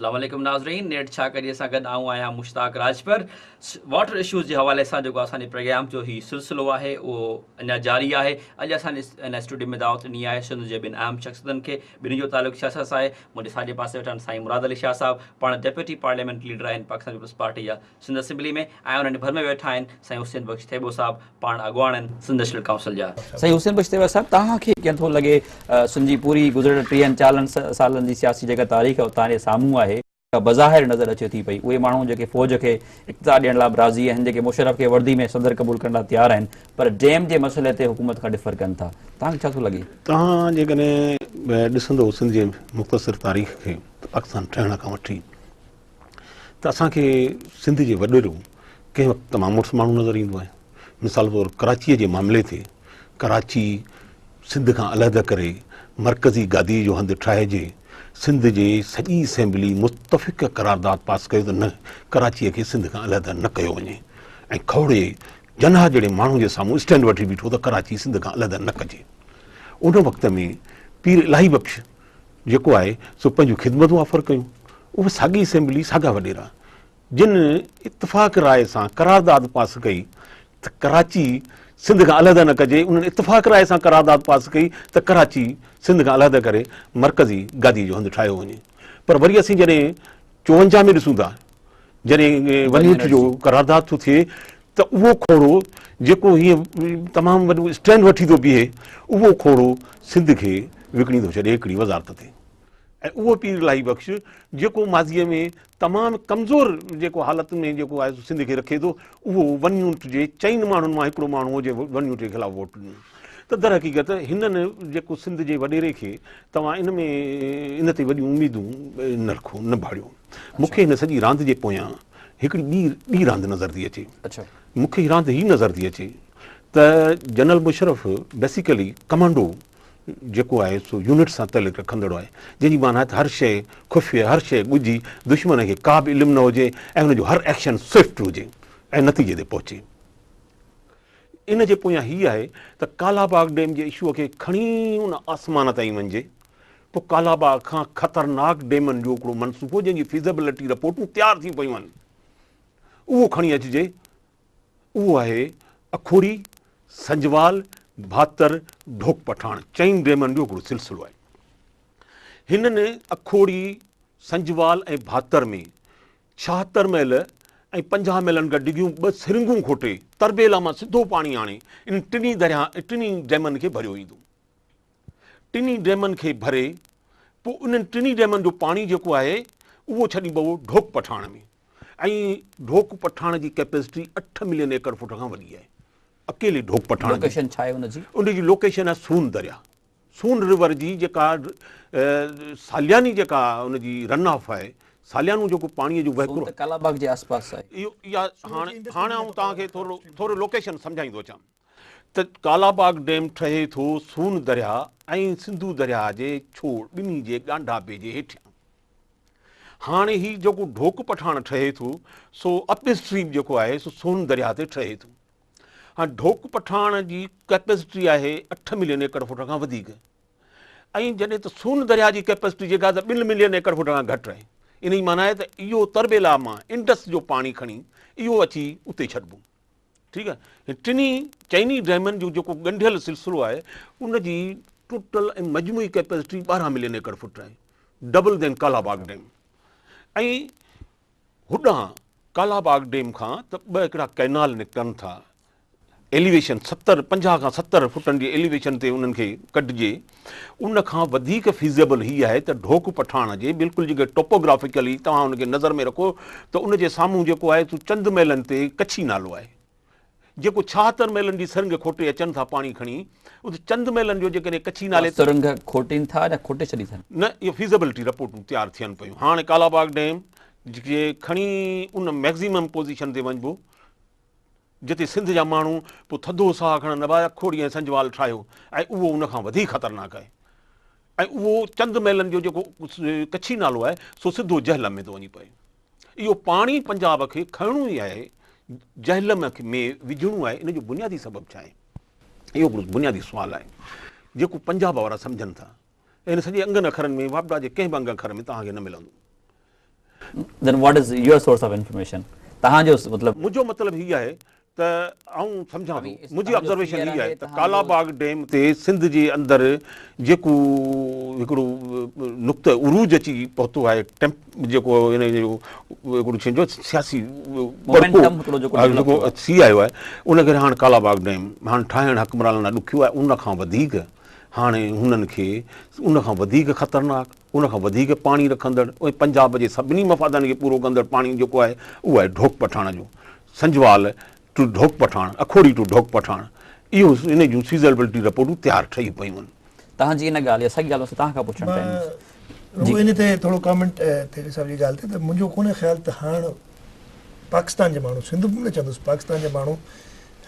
اسلام عليڪم ناظرين نيٽ ڇا ڪجي سان گڏ آئون آهيان مشتاق راجپر واٽر ايشوز جي حوالي سان جيڪو اسان جي پروگرام جو هي سلسلو آهي اهو اڃا جاري آهي اڄ اسان ان اسٽوڊيو ۾ دعوت ڏني آهي سنڌ جي ٻن اهم شخصيتن کي ٻنهي جو تعلق سياست سان آهي منهنجي ساڄي پاسي ويٺا آهن سائين مراد علي شاهه صاحب پاڻ ڊيپيوٽي پارليامينٽ ليڊر آهن پاڪستان پيپلز پارٽي جا سنڌ اسيمبلي ۾ ۽ انهن جي ڀر ۾ ويٺا آهن سائين حسين بخش ٿيٻو صاحب پاڻ اڳواڻ آهن سنڌ نيشنل ڪائونسل جا. سائين حسين بخش ٿيٻا صاحب توهان کي ڪيئن ٿو لڳي سنڌ جي پوري گذريل ٽيهن چالن سالن جي سياسي جيڪا تاريخ آهي توهان جي سامهون آهي جيڪا بظاهر نظر اچي ٿي پئي اهي ماڻهو جيڪي فوج کي اقتدار ڏيڻ لاء به راضي آهن جيڪي مشرف کي وردي ۾ صدر قبول ڪرڻ لاء تيار آهن پر ڊيم جي مسئلي تي حڪومت کان ڏڦر ڪن ٿا توهان کي ڇا ٿو لڳي. توهان جيڪڏهن ڏسندو سنڌ جي مختصر تاريخ کي ته پاڪستان ٺهڻ کان وٺي ته اسان کي سنڌ جي وڏيرو ڪنهن وقت تمام مڙس ماڻهو نظر ايندو آهي مثال طور ڪراچيء جي معاملي تي ڪراچي سنڌ کان علحده ڪري مرڪزي گاديء جو هنڌ ٺاهجي سنڌ جي سڄي اسيمبلي متفق قرارداد پاس ڪيو ته نه ڪراچيء کي سنڌ کان علحده نه ڪيو وڃي ۽ کوڙي جناح جهڙي ماڻهو جي سامهون اسٽينڊ وٺي بيٺو ته ڪراچي سنڌ کان علحده نه ڪجي ان وقت ۾ پير الاهي بخش جيڪو آهي سو پنهنجون خدمتون آفر ڪيون. اها ساڳي اسيمبلي، ساڳا وڏيرا جن اتفاق راء سان قرارداد پاس ڪئي ته ڪراچي سنڌ کان علحده نه ڪجي، انهن اتفاق راء سان قرارداد پاس ڪئي ته ڪراچي سنڌ کان علحده ڪري مرڪزي گادي جو هنڌ ٺاهيو وڃي پر وري اسين جڏهن چونجاهه ۾ ڏسون ٿا جڏهن ونيوٽ جو قرارداد ٿو ٿئي ته اهو کوڙو جيڪو هي تمام وڏو اسٽينڊ وٺي ٿو بيهي اهو کوڙو سنڌ کي وڪڻي ٿو ڇڏي هڪڙي وزارت تي ۽ اهو پير الاهي بخش جيڪو ماضيء ۾ تمام ڪمزور جيڪو حالت ۾ جيڪو آهي سنڌ کي رکي ٿو اهو ون يونٽ جي چئن ماڻهن مان هڪڙو ماڻهو هو جي ون يونٽ جي خلاف ووٽ ڏنو ته درحقيقت هنن جيڪو سنڌ جي وڏيري کي توهان ان ۾ ان تي وڏيون اميدون نه رکو نه ڀاڙيو مون کي هن سڄي راند جي پويان هڪڙي ٻي ٻي راند نظر ٿي اچي مون کي هي راند هي نظر ٿي اچي ته جنرل مشرف بيسيڪلي ڪمانڊو جيڪو آهي سو يونٽ سان تعلق رکندڙ آهي جنهن جي معنيٰ هر شيء خفيه هر شيء ڳجهي دشمن کي ڪا به علم نه هجي ۽ هن جو هر ايڪشن سوئفٽ هجي ۽ نتيجي تي پهچي ان جي پويان هي آهي ته ڪالا باغ ڊيم جي اشوء کي کڻي ان آسمان تائين وڃجي ته ڪالا باغ کان خطرناڪ ڊيمن جو هڪڙو منصوبو جنهن جي فيزيبلٽي رپورٽون تيار ٿيون پيون آهن اهو کڻي اچجي اهو آهي اکوڙي، سنجوال، ڀاتر، ڍوڪ پٺاڻ چئن ڊيمن جو هڪڙو سلسلو آهي. هنن اکوڙي، سنجوال ۽ ڀاتر ۾ ڇاهتر ميل ۽ پنجاهه ميلن کان ڊگهيون ٻه سرنگهون کوٽي، تربيلا مان سڌو پاڻي آڻي انهن ٽنهي درياهن ۽ ٽنهي ڊيمن کي ڀريو ويندو. ٽنهي ڊيمن کي ڀري، پوء انهن ٽنهي ڊيمن جو پاڻي جيڪو آهي، اهو ڇڏيبو ڍوڪ پٺاڻ ۾. ۽ ڍوڪ پٺاڻ جي ڪيپيسٽي اٺ ملين ايڪڙ فوٽ کان وڏي آهي. اڪيلي ڍوڪ پٺاڻ جي. لوڪيشن ڇا آهي ان جي؟ ان جي لوڪيشن آهي سون درياهه. سون رور جي جيڪا سالياني جيڪا ان جي رن آف آهي ساليانو جيڪو پاڻي جو وهڪرو سون ته ڪالا باغ جي آس پاس آهي. اهو يا هاڻي هاڻي آئون توهان کي ٿورو ٿورو لوڪيشن سمجهائيندو اچان ته ڪالا باغ ڊيم ٺهي ٿو سون درياء ۽ سنڌو درياء جي ڇوڙ ٻنهي جي ڳانڍاپي جي هيٺيان هاڻي هي جيڪو ڍوڪ پٺاڻ ٺهي ٿو سو اپ اسٽريم جيڪو آهي سو سون درياء تي ٺهي ٿو. هاڻ ڍوڪ پٺاڻ جي ڪئپيسٽي آهي اٺ ملين ايڪڙ فوٽ کان وڌيڪ ۽ جڏهن ته سون درياء جي ڪئپيسٽي جيڪا ته ٻن ملين ايڪڙ فوٽ کان گهٽ آهي ان جي معنيٰ آهي ته اهو تربيلا مان انڊس جو پاڻي کڻي اهو اچي اتي ڇڏبو ٺيڪ آهي ٽنهي چئني ڊيمن جو جيڪو ڳنڍيل سلسلو آهي ان جي ٽوٽل ۽ مجموعي ڪئپيسٽي ٻارهن ملين ايڪڙ فوٽ آهي ڊبل دين ڪالا باغ ڊيم ۽ هوڏانهن ڪالا باغ ڊيم کان ته ٻه هڪڙا ڪئنال نڪتن ٿا، ايليويشن ستر پنجاهه کان ستر فٽن جي ايليويشن تي انهن کي ڪڍجي، ان کان وڌيڪ فيزيبل هي آهي ته ڍوڪ پٺاڻ جي بلڪل جيڪي ٽوپوگرافيڪلي توهان ان کي نظر ۾ رکو ته ان جي سامهون جيڪو آهي سو چند ميلن تي ڪڇي نالو آهي. جيڪو ڇاهتر ميلن جي سرنگهه کوٽي اچن ٿا پاڻي کڻي ات چند ميلن جو جيڪڏهن ڪڇي نالي تي سرنگهه کٽين ٿا يا کوٽي ڇڏي ٿن. نه اهو فيزيبلٽي رپورٽون تيار ٿين پيون هاڻ ڪالاباغ ڊيم جي کڻي ان ميڪزيمم پوزيشن تي وڃبو جتي سنڌ جا ماڻهو پو ٿڌو ساهه کڻن ابا کهڙي ۽ سنجوال ٺاهيو ۽ اهو ان کان وڌيڪ خطرناڪ آهي ۽ اهو چند ميلن جو جيڪو ڪڇي نالو آهي سو سڌو جهلم ۾ ٿو وڃي پئي. اهو پاڻي پنجاب کي کڻڻو ئي آهي، جهلم ۾ وجهڻو آهي، ان جو بنيادي سبب ڇا آهي؟ اهو هڪڙو بنيادي سوال آهي، جيڪو پنجاب وارا سمجهن ٿا ۽ هن سڄي انگن اکرن ۾ واپڊا جي ڪنهن به انگ اکر ۾ توهان کي نه ملندو. Then what is your source of information؟ توهان جو مطلب. منهنجو مطلب هي آهي ته آئون سمجهان ٿو منهنجي آبزرويشن هي آهي ته ڪالا باغ ڊيم تي سنڌ جي اندر جيڪو هڪڙو نقطه عروج اچي پهتو آهي جيڪو ان جو هڪڙو ڇين جو سياسي ٿي آيو آهي ان ڪري هاڻ ڪالا باغ ڊيم هاڻ ٺاهڻ حڪمران لاء ڏکيو آهي ان کان وڌيڪ هاڻي هنن کي ان کان وڌيڪ خطرناڪ ان کان وڌيڪ پاڻي رکندڙ ۽ پنجاب جي سڀني مفادن کي پورو ڪندڙ پاڻي جيڪو آهي اهو آهي ڍوڪ پٺاڻ جو سنجوال ٽو ڍوڪ پٺاڻ، اکوڙي ٽو ڍوڪ پٺاڻ اهو ان جون سيزربلٽي رپورٽون تيار ٺهي پيون آهن. توهان جي ان ڳالهه يا ساڳي ڳالهه مون کي توهان کان پڇڻ چاهيندس. مان رڳو ان تي ٿورو ڪامينٽ تيري صاحب جي ڳالهه تي ته منهنجو ڪونهي خيال ته هاڻ پاڪستان جي ماڻهو سنڌ به نه چوندس پاڪستان جا ماڻهو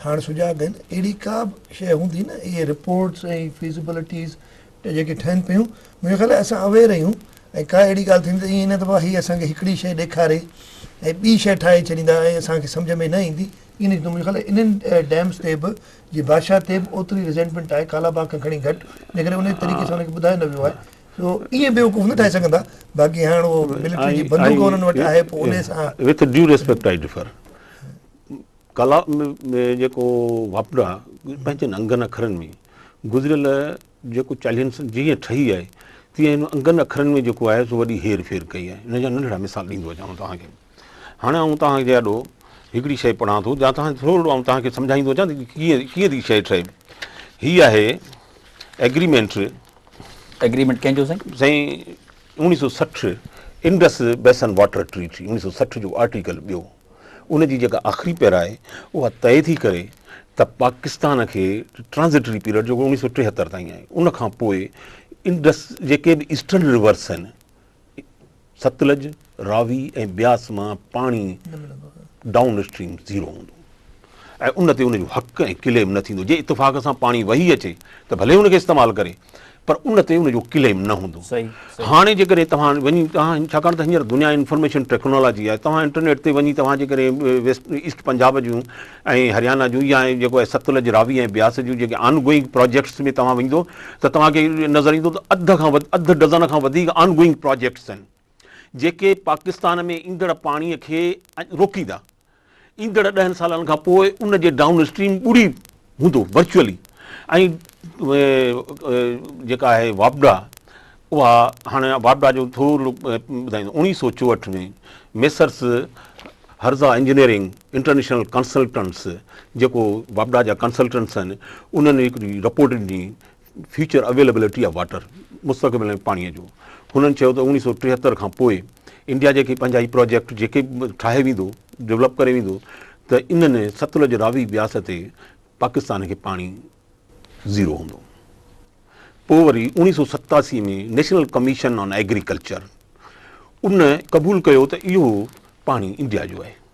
هاڻ سجاڳ آهن اهڙي ڪا به شيء هوندي نه اهي رپورٽس ۽ فيزيبلٽيز جيڪي ٺهن پيون منهنجو خيال آهي اسان اويئر آهيون ۽ ڪا اهڙي ڳالهه ٿيندي ته ائين نه ته واهه هي اسان کي هڪڙي شيء ڏيکاري ۽ ٻي شيء ٺاهي ڇڏيندا ۽ اسان کي سمجهه ۾ نه ايندي ائين نه ٿيندو منهنجو خيال آهي انهن ڊيمز تي به جي بادشاهه تي به اوتري ريزينٽمينٽ آهي ڪالاباغ کان کڻي گهٽ ان ڪري انهي طريقي سان انهن کي ٻڌايو نه ويو آهي سو ائين بيوقوف نه ٺاهي سگهن ٿا باقي هاڻ اهو ملٽري جي بندوق انهن وٽ آهي پوء انهي سان With due respect I differ ڪلا ۾ جيڪو واپڊا پنهنجن انگن اکرن ۾ گذريل جيڪو چاليهن سن جيئن ٺهي آهي تيئن هن انگن اکرن ۾ جيڪو آهي سو وڏي هير ڦير ڪئي آهي ان جا ننڍڙا مثال ڏيندو اچان توهان کي هاڻي آئون توهان جي آڏو هڪڙي شيء پڙهان ٿو جا توهان ٿورڙو آئون توهان کي سمجهائيندو اچان ته ڪيئن ڪيئن ٿي شيء ٺهي هي آهي ايگريمينٽ ايگريمينٽ ڪنهن جو سائين سائين اوڻيهه سو سٺ انڊس بيسن واٽر ٽريٽي اوڻيهه سو سٺ جو آرٽيڪل ٻيو ان جي جيڪا آخري پيرا آهي اها طئي ٿي ڪري ته پاڪستان کي ٽرانزٽري پيريڊ جيڪو اوڻيهه سو ٽيهتر تائين آهي ان کان پوء انڊس جيڪي به ايسٽرن ريورس آهن ستلج راوي ۽ بياس مان پاڻي ڊائون اسٽريم زيرو هوندو ۽ ان تي ان جو حق ۽ ڪليم نه ٿيندو جي اتفاق سان پاڻي وهي اچي ته ڀلي ان کي استعمال ڪري پر ان تي ان جو ڪليم نه هوندو هاڻي جيڪڏهن توهان وڃي توهان ڇاڪاڻ ته هينئر دنيا انفارميشن ٽيڪنالاجي آهي توهان انٽرنيٽ تي وڃي توهان جيڪڏهن ويسٽ ايسٽ پنجاب جون ۽ هريانا جون يا جيڪو آهي ستلج راوي ۽ بياس جون جيڪي آن گوئنگ پروجيڪٽس ۾ توهان ويندو ته توهان کي نظر ايندو ته اڌ کان اڌ ڊزن کان وڌيڪ آن گوئنگ پروجيڪٽس آهن جيڪي پاڪستان ۾ ايندڙ پاڻي کي روڪيندا ايندڙ ڏهن سالن کان پوء ان جي ڊائون اسٽريم ٻڙي هوندو ورچوئلي ۽ جيڪا آهي واپڊا اها هاڻي واپڊا جو ٿورو ٻڌائيندو اوڻيهه سو چوهٺ ۾ Messrs Harza engineering international consultants جيڪو واپڊا جا ڪنسلٽنٽس آهن انهن هڪڙي رپورٽ ڏني فيوچر اويليبلٽي آف واٽر، مستقبل ۾ پاڻي جو، هنن چيو ته اوڻيهه سؤ ٽيهتر کان پوء انڊيا جيڪي پنهنجا هي پراجيڪٽ جيڪي به ٺاهي ويندو، ڊولپ ڪري ويندو ته انهن ستلج راوي بياس تي پاڪستان کي پاڻي زيرو هوندو. پوء وري اوڻيهه سؤ ستاسي ۾ نيشنل ڪميشن آن ايگريڪلچر ان قبول ڪيو ته اهو پاڻي انڊيا جو آهي.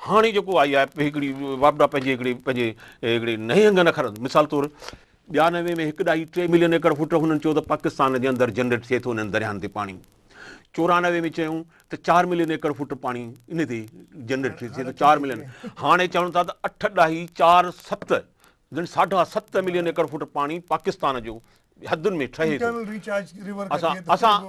هاڻي جيڪو آئي آهي هڪڙي واپڊا پنهنجي هڪڙي پنهنجي هڪڙي نهنگن اکرن مثال طور ٻيانوي ۾ هڪ ڏهائي ٽي ملين ايڪڙ فٽ هنن چيو ته پاڪستان جي اندر جنريٽ ٿئي ٿو انهن درياهن تي پاڻي چورانوي ۾ چيون ته چار ملين ايڪڙ فٽ پاڻي ان تي جنريٽ ٿئي ٿو چار ملين هاڻي چون ٿا ته اٺ ڏهائي چار ست جن ساڍا ست ملين ايڪڙ فوٽ پاڻي پاڪستان جو حدن ۾ ٺهي ٿو اسان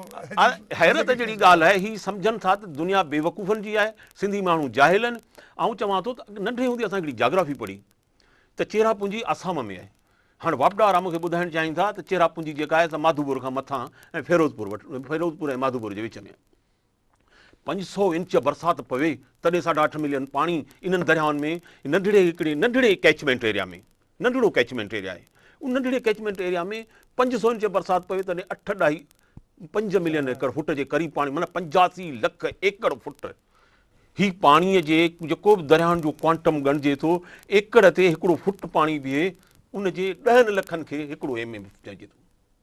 حيرت جهڙي ڳالهه آهي هي سمجهن ٿا ته دنيا بيوقوفن جي آهي سنڌي ماڻهو جاهل آهن آئون چوان ٿو ته ننڍي هوندي اسان هڪڙي جاگرافي پڙهي ته چيرا پونجي آسام ۾ آهي هاڻ واپڊا وارا مونکي ٻڌائڻ چاهين ٿا ته چيرا پونجي جيڪا آهي سا ماڌوپور کان مٿان ۽ فيروز پور وٽ فيروز پور ۽ ماڌوپور جي وچ ۾ پنج سؤ انچ برسات پوي تڏهن ساڍا اٺ ملين پاڻي انهن درياهن ۾ ننڍڙي هڪڙي ننڍڙي ڪيچمينٽ ايريا ۾ ننڍڙو ڪيچمينٽ ايريا آهي ان ننڍڙي ڪيچمينٽ ايريا ۾ پنج سؤ انچ برسات پوي تڏهن اٺ ڏهائي پنج ملين ايڪڙ فٽ جي قريب پاڻي معنيٰ پنجاسي لک ايڪڙ فٽ هي پاڻي جي جيڪو به درياهن جو ڪوانٽم ڳڻجي ٿو ايڪڙ تي هڪڙو فٽ پاڻي بيهي ان جي ڏهن لکن کي هڪڙو ايم ايم چئجي ٿو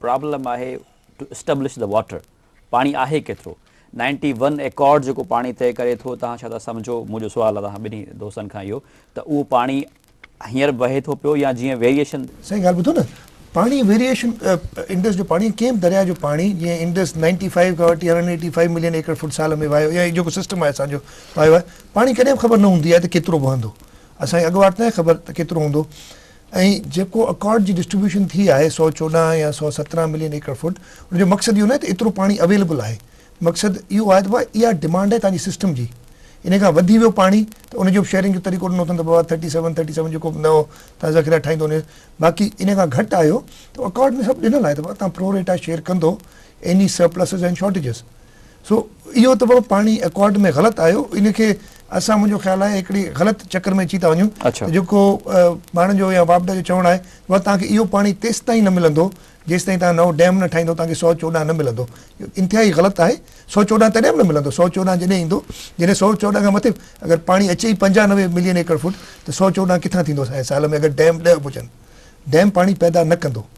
پرابلم آهي ٽو اسٽبلش دي واٽر پاڻي آهي ڪيترو نائنٽي ون ايڪارڊ جيڪو پاڻي طئي ڪري ٿو توهان ڇا ٿا سمجهو منهنجو سوال آهي توهان ٻنهي دوستن کان اهو ته اهو پاڻي هينئر وهي ٿو پيو يا جيئن ويريئيشن سائين ڳالهه ٻڌو نه پاڻي ويريئيشن انڊس جو پاڻي ڪنهن به درياء جو پاڻي جيئن انڊس نائنٽي فائيو کان وٺي هنڊريڊ ايٽي فائيو ملين ايڪڙ فوٽ سال ۾ وهيو يا هي جيڪو سسٽم آهي اسان جو وهيو آهي پاڻي ڪڏهن به خبر نه هوندي آهي ته ڪيترو وهندو اسان کي اڳواٽ ناهي خبر ته ڪيترو هوندو ۽ جيڪو اڪارڊ جي ڊسٽريبيوشن ٿي آهي سؤ چوڏهن يا سؤ سترهن ملين ايڪڙ فوٽ ان جو مقصد اهو ناهي ته ايترو پاڻي اويليبل آهي مقصد اهو آهي ته بابا اها ڊمانڊ آهي تنهنجي سسٽم جي ان کان وڌي ويو پاڻي ته ان جو به شيئرنگ جو طريقو ڏنو اٿن ته بابا ٿرٽي سيون ٿرٽي سيون جيڪو به نئو تنهنجا ذخيرا ٺاهيندو ان باقي ان کان گهٽ آيو ته اڪارڊ ۾ سڀ ڏنل آهي ته بابا تنهن پرو ريٽا شيئر ڪندو ايني سرپلسز اينڊ شارٽيجز سو اهو ته بابا پاڻ ئي ايڪارڊ ۾ غلط آيو ان کي اسان منهنجو خيال آهي هڪڙي غلط چڪر ۾ اچي ٿا وڃون ته جيڪو پاڻ جو يا واپڊا جو چوڻ آهي بابا توهان کي اهو پاڻي تيستائين نه ملندو جيستائين توهان نئون ڊيم نه ٺاهيندو توهان کي سؤ چوڏهن نه ملندو اهو انتهائي غلط آهي سؤ چوڏهن تڏهن به نه ملندو سؤ چوڏهن جڏهن ايندو جڏهن سؤ چوڏهن کان مٿي اگر پاڻي اچي ئي پنجاهه نوي ملين ايڪڙ فوٽ ته سؤ چوڏهن ڪٿان ٿيندو سائين سال ۾ اگر ڊيم ڏهه به هجن ڊيم پاڻي پيدا نه ڪندو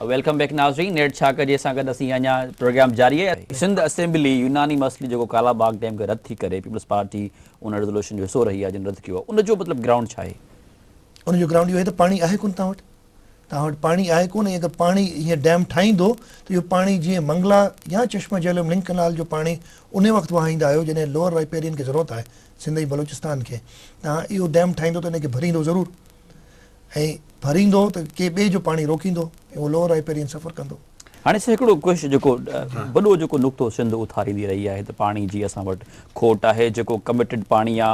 ويلڪم بيڪ ناظرين نيٺ ڇا ڪجي سان گڏ اسين اڃا پروگرام جاري آهي. سنڌ اسيمبلي يوناني مسئلي جيڪو ڪالا باغ ڊيم کي رد ٿي ڪري پيپلز پارٽي ان ريزولوشن جو حصو رهي آهي جن رد ڪيو آهي ان جو مطلب گرائونڊ ڇا آهي؟ ان جو گرائونڊ اهو آهي ته پاڻي آهي ڪونه توهان وٽ توهان وٽ پاڻي آهي ڪونه ۽ اگر پاڻي هيء ڊيم ٺاهيندو ته اهو پاڻي جيئن منگلا يا چشمه جهلم لنڪ ڪئنال جو پاڻي انهي وقت وهائيندا آهيو جڏهن لوئر رائپيرين کي ضرورت آهي سنڌ ۽ بلوچستان کي توهان اهو ڊيم ٺاهيندو ته ان کي ڀريندو ضرور ۽ ڀريندو ته ڪنهن ٻئي جو پاڻي روڪيندو ۽ اهو لوهه رائپيرين سفر ڪندو. هاڻي سر هڪڙو ڪوش جيڪو وڏو جيڪو نقطو سنڌ اٿاريندي رهي آهي ته پاڻي جي اسان وٽ کوٽ آهي جيڪو ڪمٽيڊ پاڻي آ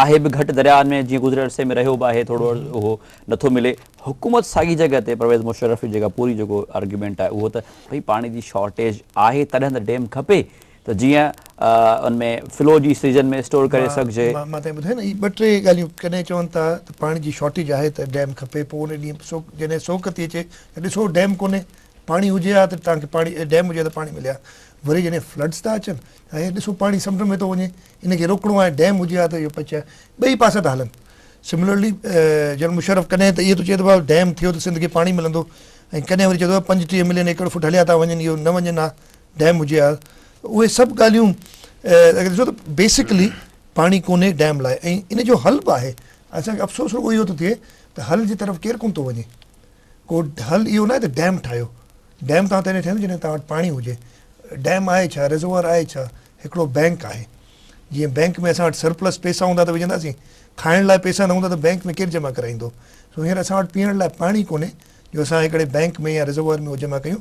آهي به گهٽ درياهن ۾ جيئن گذريل عرصي ۾ رهيو به آهي ٿورو اهو نٿو ملي حڪومت ساڳي جڳهه تي پرويز مشرف جي جيڪا پوري جيڪو آرگيومينٽ آهي اهو ته ڀئي پاڻي جي شارٽيج آهي تڏهن ته ڊيم کپي ته جيئن ان ۾ فلو جي سيزن ۾ اسٽور ڪري سگهجي. مان تائين ٻڌائي نه هي ٻه ٽي ڳالهيون ڪڏهن چون ٿا ته پاڻي جي شارٽيج آهي ته ڊيم کپي پوء ان ڏينهن سوڪ جڏهن سوڪ ٿي اچي ته ڏسو ڊيم ڪونهي پاڻي هجي ها ته تان کي پاڻي ڊيم هجي ها ته پاڻي ملي ها وري جڏهن فلڊز ٿا اچن ته هي ڏسو پاڻي سمنڊ ۾ ٿو وڃي ان کي روڪڻو آهي ڊيم هجي ها ته اهو پچ آهي ٻئي پاسا ٿا هلن سملرلي جنرل مشرف ڪڏهن ته اهو ٿو چئي ته بابا ڊيم ٿيو ته سنڌ کي پاڻي ملندو ۽ ڪڏهن وري چئي ٿو پنجٽيهه ملين ايڪڙ فوٽ هليا ٿا وڃن اهو نه وڃن ها ڊيم هجي ها اهي سڀ ڳالهيون اگر ڏسو ته بيسڪلي پاڻي ڪونهي ڊيم لاء ۽ ان جو حل به آهي اسان کي افسوس رڳو اهو ٿو ٿئي ته حل جي طرف ڪير ڪونه ٿو وڃي ڪو حل اهو ناهي ته ڊيم ٺاهيو ڊيم تان تڏهن ٺهندو جڏهن توهان وٽ پاڻي هجي ڊيم آهي ڇا رزوار آهي ڇا هڪڙو بينڪ آهي جيئن بينڪ ۾ اسان وٽ سرپلس پئسا هوندا ته وجهنداسين کائڻ لاء پئسا نه هوندا ته بينڪ ۾ ڪير جمع ڪرائيندو سو هينئر اسان وٽ پيئڻ لاء پاڻي ڪونهي جو اسان هڪڙي بينڪ ۾ يا رزوار ۾ جمع ڪيون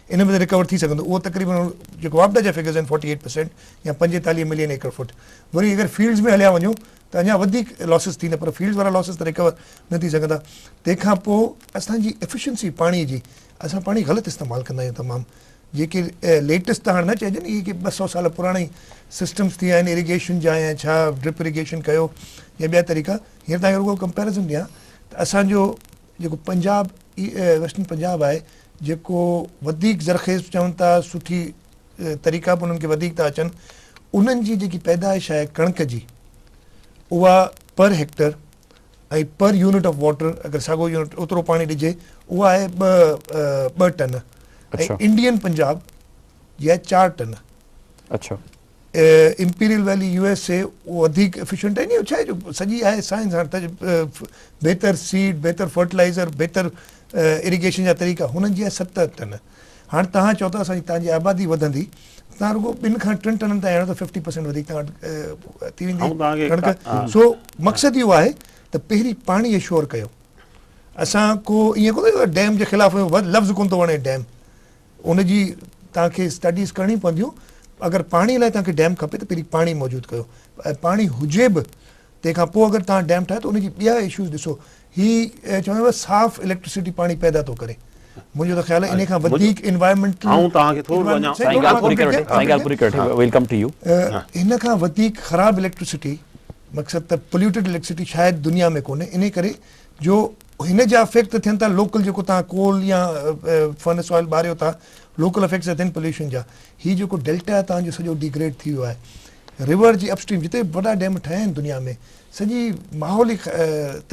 ان ۾ ته رڪور ٿي سگهندو اهو تقريبن هن جيڪو واپڊا جا فگرز آهن فورٽي ايٽ پرسينٽ يا پنجيتاليهه ملين ايڪڙ فوٽ وري اگر فيلڊز ۾ هليا وڃو ته اڃا وڌيڪ لاسز ٿيندا پر فيلڊز وارا لاسز ته رڪور نه ٿي سگهندا تنهن کان پوء اسان جي افيشنسي پاڻي جي اسان پاڻي غلط استعمال ڪندا آهيون تمام جيڪي ليٽيسٽ ته هاڻ نه چئجن اهي ڪي ٻه سئو سال پراڻا ئي سسٽمز ٿي آهن اريگيشن جا يا ڇا ڊرپ اريگيشن ڪيو يا ٻيا طريقا هينئر تهان کي رڳو ڪمپيرزن ڏيان ته اسان جو جيڪو پنجاب ويسٽرن پنجاب آهي جيڪو وڌيڪ زرخيز چون ٿا سٺي طريقا به انهن کي وڌيڪ ٿا اچن انهن جي جيڪي پيدائش آهي ڪڻڪ جي اها per hectare ۽ per unit of water اگر ساڳو يونٽ اوترو پاڻي ڏجي اها آهي ٻه ٻه ٽن ۽ انڊين پنجاب جي آهي چار ٽن اچھا Imperial Valley U S A وڌيڪ ايفيشنٽ آهن اهو ڇاهي جو سڄي آهي سائنس هاڻ ته بهتر سيڊ بهتر فرٽلائزر بهتر اريگيشن جا طريقا هنن جي آهي ست ٽن هاڻ تهان چئو ٿا اسان تهان جي آبادي وڌندي تهان رڳو ٻن کان ٽن ٽنن تائين آڻو ته ففٽي پرسينٽ وڌيڪ تهان وٽ ٿي ويندي ڪڻڪ سو مقصد اهو آهي ته پهرين پاڻي اشور ڪيو اسان ڪو ائين ڪونه ڏيم جي خلاف لفظ ڪونه ٿو وڻي ڊيم ان جي توهان کي اسٽڊيز ڪرڻيون پونديون. اگر پاڻي لاء توهان کي ڊيم کپي ته پهرين پاڻي موجود ڪيو ۽ پاڻي هجي به تنهن کان پوء اگر توهان ڊيم ٺاهيو ته ان جي ٻيا اشوز ڏسو. هي چوندو آهيان صاف اليڪٽرسٽي پاڻي پيدا ٿو ڪري. منهنجو ته خيال آهي ان کان وڌيڪ انوائرمينٽل آئون توهان کي ٿورو اڃا سائين ڳالهه پوري ڪري وٺي سائين ڳالهه پوري ڪري وٺي ويل ڪم ٽو يو ان کان وڌيڪ خراب اليڪٽرسٽي مقصد ته پوليوٽيڊ اليڪٽرسٽي شايد دنيا ۾ ڪونهي انهي ڪري جو هن جا افيڪٽ ته ٿين ٿا لوڪل جيڪو تهان ڪول يا فرنس آئل ٻاريو ٿا لوڪل افيڪٽس ته ٿين پوليوشن جا هي جيڪو ڊيلٽا تهان جو سڄو ڊيگريڊ ٿي ويو آهي رور جي اپ اسٽريم جتي وڏا ڊيم ٺهيا آهن دنيا ۾ سڄي ماحول ئي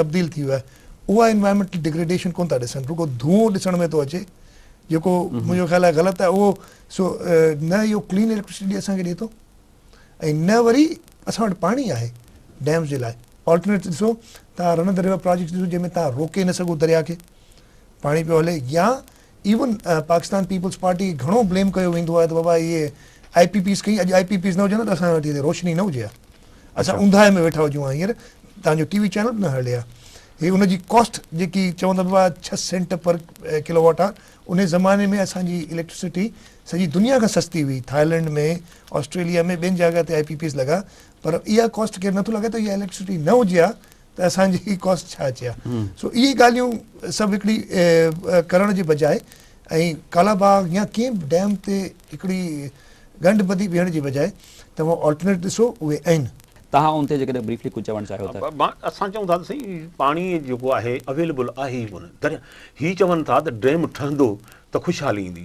تبديل ٿي ويو آهي اها انوائرمينٽل ڊيگريڊيشن ڪون ٿا ڏسن رڳو ڌوئون ڏسڻ ۾ ٿو اچي جيڪو منهنجو خيال آهي غلط آهي اهو سو نه اهو ڪلين اليڪٽرسٽي اسان کي ڏي ٿو ۽ نه وري اسان وٽ پاڻي آهي ڊيمز جي لاء آلٽرنيٽ ڏسو توهان رن دريوا پراجيڪٽ ڏسو جنهن ۾ توهان روڪي نه سگهو دريا کي پاڻي پيو هلي يا ايون پاڪستان پيپلز پارٽي کي گهڻو بليم ڪيو ويندو آهي ته بابا اهي آئي پي پيز کي اڄ آئي پي پيز نه هجن ته اسان وٽ هتي روشني نه هجي ها اسان اونداهي ۾ ويٺا هجون ها هينئر توهان جو ٽي وي چينل به نه هلي ها هي ان جي ڪاسٽ جيڪي چون ٿا بابا ڇهه cent per kilowatt hour ان زماني ۾ اسان جي اليڪٽرسٽي سڄي دنيا کان سستي هئي، ٿائلنڊ ۾ آسٽريليا ۾ ٻين جاء تي آء پي پيز لڳا پر اها ڪاسٽ ڪير نٿو لڳائي ته اها اليڪٽرسٽي نه هجي ها ته اسان جي هي ڪاسٽ ڇا اچي ها سو اهي ڳالهيون سڀ هڪڙي ڪرڻ جي بجاء ۽ ڪالا باغ يا ڪنهن به ڊيم تي هڪڙي ڳنڍ ٻڌي بيهڻ جي بجاء توهان آلٽرنيٽ ڏسو اهي آهن. تهان ان تي جيڪڏهن بريفلي ڪجهه چوڻ چاهيو ته. اسان چئون ٿا ته سائين پاڻي جيڪو آهي اويليبل آهي ئي ڪونه. هي چون ٿا ته ڊيم ٺهندو ته خوشحالي ايندي.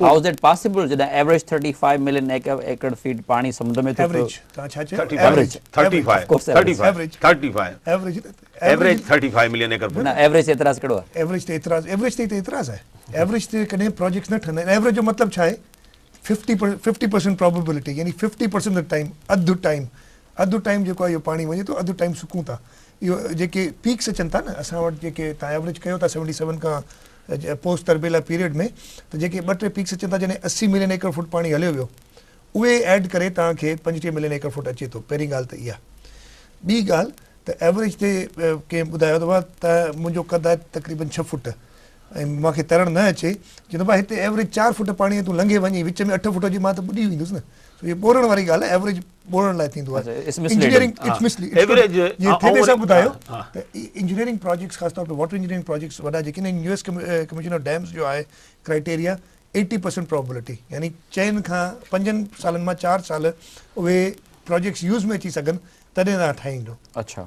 هاء از اٽ پاسيبل جڏهن average thirty five million acre feet پاڻي سمنڊ ۾ ٿو ٿو پوسٽ تربيلا پيريڊ ۾ ته جيڪي ٻه ٽي پيڪس اچن ٿا جڏهن اسي ملين ايڪڙ فوٽ پاڻي هليو ويو اهي ايڊ ڪري توهان کي پنجٽيهه ملين ايڪڙ فوٽ اچي ٿو پهرين ڳالهه ته اها ٻي ڳالهه ته ايوريج تي ڪنهن ٻڌايو ته بابا ته منهنجو قد آهي تقريبن ڇهه فوٽ ۽ مان کي ترڻ نه اچي چي بابا هتي ايوريج چار فوٽ پاڻي تون لنگهي وڃي وچ ۾ اٺ فوٽ هجي مان ته ٻڏي ويندس نه سو هي ٻورڻ واري ڳالهه ايوريج ٻوڙڻ لاء ٿيندو آهي engineering it's misleading average جي ٿي ڏسا ٻڌايو ته انجنيئرنگ پراجيڪٽس خاص طور تي واٽر انجنيئرنگ پراجيڪٽس وڏا جيڪي نين U S commission of dams جو آهي ڪرائيٽيريا ايٽي پرسنٽ پرابلٽي يعني چئن کان پنجن سالن مان چار سال اهي پراجيڪٽس يوز ۾ اچي سگهن تڏهن تان ٺاهيندو اڇا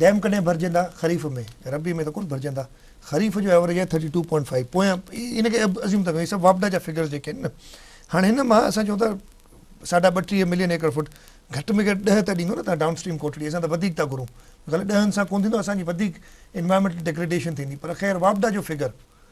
ڊيم ڪڏهن ڀرجندا خريف ۾؟ ربيع ۾ ته ڪونه ڀرجندا، خريف جو ايوريج آهي ٿرٽي ٽو پوائنٽ فائيو پويان ان کي ازيوم ٿا ڪيون هي سڀ واپڊا جا فگرز جيڪي آهن نه هاڻي هن مان اسان چون ٿا ساڍا ٻٽيهه ملين ايڪڙ فوٽ گهٽ ۾ گهٽ ڏهه ته ڏيندو نه تان ڊائون اسٽريم ڪوٽڙي اسان ته وڌيڪ ٿا گهرون غلط ڏهن سان ڪونه ٿيندو اسان جي وڌيڪ انوائرمينٽل ڊگريڊيشن ٿيندي پر خير واپڊا جو فگر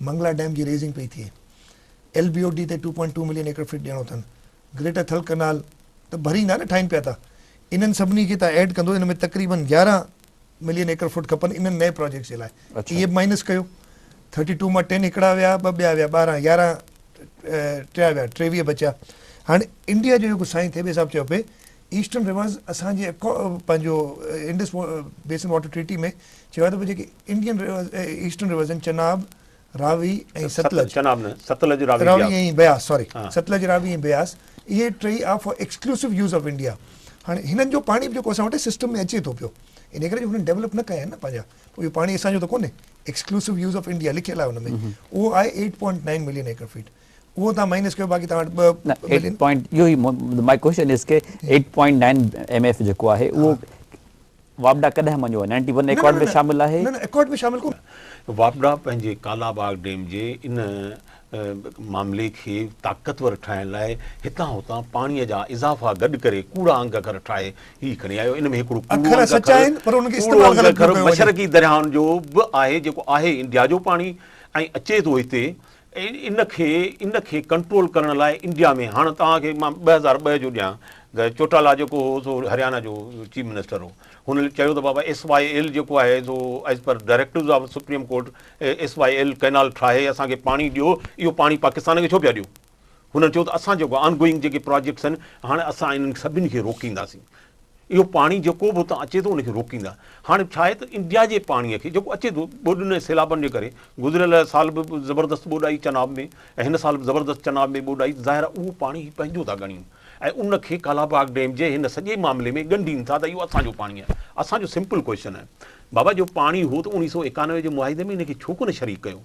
منگلا ڊيم جي ريزنگ پئي ٿئي، ايل بي او ڊي تي two point two million acre feet ڏيڻو اٿن، گريٽر ٿل ڪئنال ته ڀريندا نه ٺاهين پيا ٿا، انهن سڀني کي تان ايڊ ڪندو، ان ۾ تقريبن يارهن ملين ايڪڙ فٽ کپن انهن نئين پراجيڪٽس جي لاء، اهي به مائنس ڪيو، ٿرٽي ٽو مان ٽين هڪڙا ويا، ٻه ٻيا ويا، ٻارهن، يارهن ٽيا ويا، ٽيويهه بچيا، هاڻ انڊيا جو جيڪو سائين ٿيٻي صاحب چيو پئي ايسٽرن ريورز اسان جي پنهنجو انڊس بيسن واٽر ٽريٽي ۾ چيو آهي ته پوء جيڪي انڊين ريورز ايسٽرن ريورز آهن چناب، راوي ۽ ستلج. چناب نه، ستلج، راوي، بياس. راوي ۽ بياس ساري ستلج، راوي ۽ بياس اهي ٽيئي are for exclusive use of India. هاڻي هنن جو پاڻي به جيڪو اسان وٽ سسٽم ۾ اچي ٿو پيو ان ڪري جو هنن ڊيولپ نه ڪيا آهن نه پنهنجا پوء اهو پاڻي اسان جو ته ڪونهي ايڪسڪلوسو يوز آف انڊيا لکيل آهي ان ۾ اهو آهي eight point nine million acre feet. اهو توهان مائنس ڪيو باقي توهان وٽ ٻه نه ايٽ ملين. پوائنٽ اهو ئي ماء ڪوشچن از ڪي eight point nine M F جيڪو آهي اهو واپڊا ڪڏهن مڃيو آهي نائنٽي ون ايڪارڊ ۾ شامل آهي. نه نه ايڪارڊ ۾ شامل ڪونه. واپڊا پنهنجي ڪالا باغ ڊيم جي ان معاملي کي طاقتور ٺاهڻ لاء هتان هتان پاڻي جا اضافا گڏ ڪري ڪوڙا انگ اکر ٺاهي هي کڻي آيو ان ۾ هڪڙو ڪوڙو انگ اکر مشرقي درياهن جو به آهي جيڪو آهي انڊيا جو پاڻي ۽ اچي ٿو هتي ان کي ان کي ڪنٽرول ڪرڻ لاء انڊيا ۾ هاڻ توهان کي مان ٻه هزار ٻه جو ڏيان چوٽالا جيڪو هو سو هريانا جو چيف منسٽر هو هن چيو ته بابا ايس واء ايل جيڪو آهي سو as per directives of supreme court S Y L canal ٺاهي اسان کي پاڻي ڏيو اهو پاڻي پاڪستان کي ڇو پيا ڏيو هنن چيو ته اسان جيڪو آن گوئنگ جيڪي پراجيڪٽس آهن هاڻ اسان انهن سڀني کي روڪينداسين اهو پاڻي جيڪو به اتان اچي ٿو ان کي روڪيندا. هاڻي ڇا آهي ته انڊيا جي پاڻي کي جيڪو اچي ٿو ٻوڏن ۽ سيلابن جي ڪري گذريل سال به زبردست ٻوڏ آئي چناب ۾ ۽ هن سال به زبردست چناب ۾ ٻوڏ آئي ته ظاهر آهي اهو پاڻي هي پنهنجو ٿا ڳڻين ۽ ان کي ڪالاباغ ڊيم جي هن سڄي معاملي ۾ ڳنڍين ٿا ته اهو اسان جو پاڻي آهي اسان جو سمپل ڪوئشن آهي بابا جو پاڻي هو ته اڻيهه سؤ ايڪانوي جي معاهدي ۾ ان کي ڇو ڪونه شريڪ ڪيو.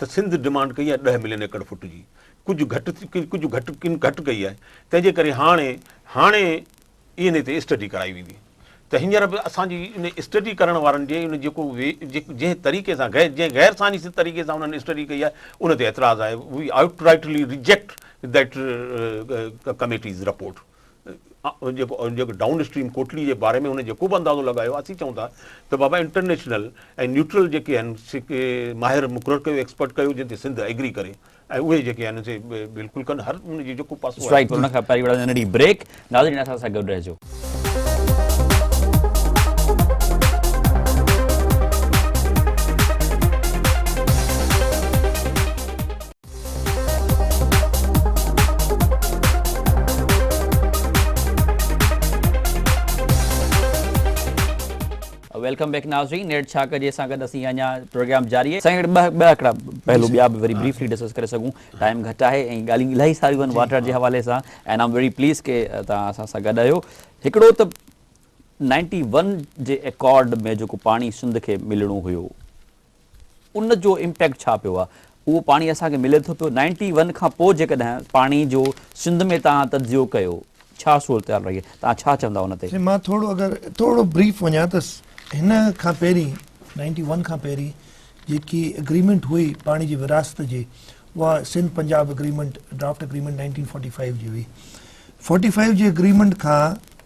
ته سنڌ ڊمانڊ ڪئي آهي ڏهه ملين ايڪڙ فٽ جي ڪجهه گهٽ ڪجهه گهٽ ڪن گهٽ ڪئي آهي تنهن جي ڪري هاڻي هاڻي انهي تي اسٽڊي ڪرائي ويندي ته هينئر به اسان جي ان اسٽڊي ڪرڻ وارن جي ان جيڪو جنهن طريقي سان غير جنهن غير سائنسي طريقي سان انهن اسٽڊي ڪئي آهي ان تي اعتراض آهي we outrightly reject that committee's report جيڪو ڊائون اسٽريم ڪوٽلي جي باري ۾ هن جيڪو به اندازو لڳايو اسين چئون ٿا ته بابا انٽرنيشنل ۽ نيوٽرل جيڪي آهن سي ماهر مقرر ڪيو ايڪسپرٽ ڪيو جن تي سنڌ ايگري ڪري ۽ اهي جيڪي آهن سي بلڪل ڪن هر ان جي جيڪو پاسو آهي ان کان پهرين وڙهندي ننڍي بريڪ ناظرين اسان سان گڏ رهجو ويلڪم بيڪ ناظرين نيٽ ڇا ڪجي سان گڏ اسين اڃا پروگرام جاري آهي سائين ٻه ٻه هڪڙا پهلو ٻيا به وري بريفلي ڊسڪس ڪري سگهون ٽائيم گهٽ آهي ۽ ڳالهيون الاهي ساريون آهن واٽر جي حوالي سان اينڊ آم ويري پليز ڪي تان اسان سان گڏ آهيو هڪڙو ته 91 جي ايڪارڊ ۾ جيڪو پاڻي سنڌ کي ملڻو هيو ان جو امپيڪٽ ڇا پيو آهي اهو پاڻي اسان کي ملي ٿو پيو نائنٽي ون کان پوء جيڪڏهن پاڻي جو سنڌ ۾ تهان تجزيو ڪيو ڇا صورتحال رهي آهي تهان ڇا چوندا ان تي. سائين مان ٿورو اگر ٿورو بريف وڃان ته هن کان پهرين نائنٽي ون کان پهرين جيڪي اگريمينٽ هئي پاڻي جي ورهاست جي اها Sindh Punjab agreement draft agreement nineteen forty five جي هئي فورٽي فائيو جي اگريمينٽ کان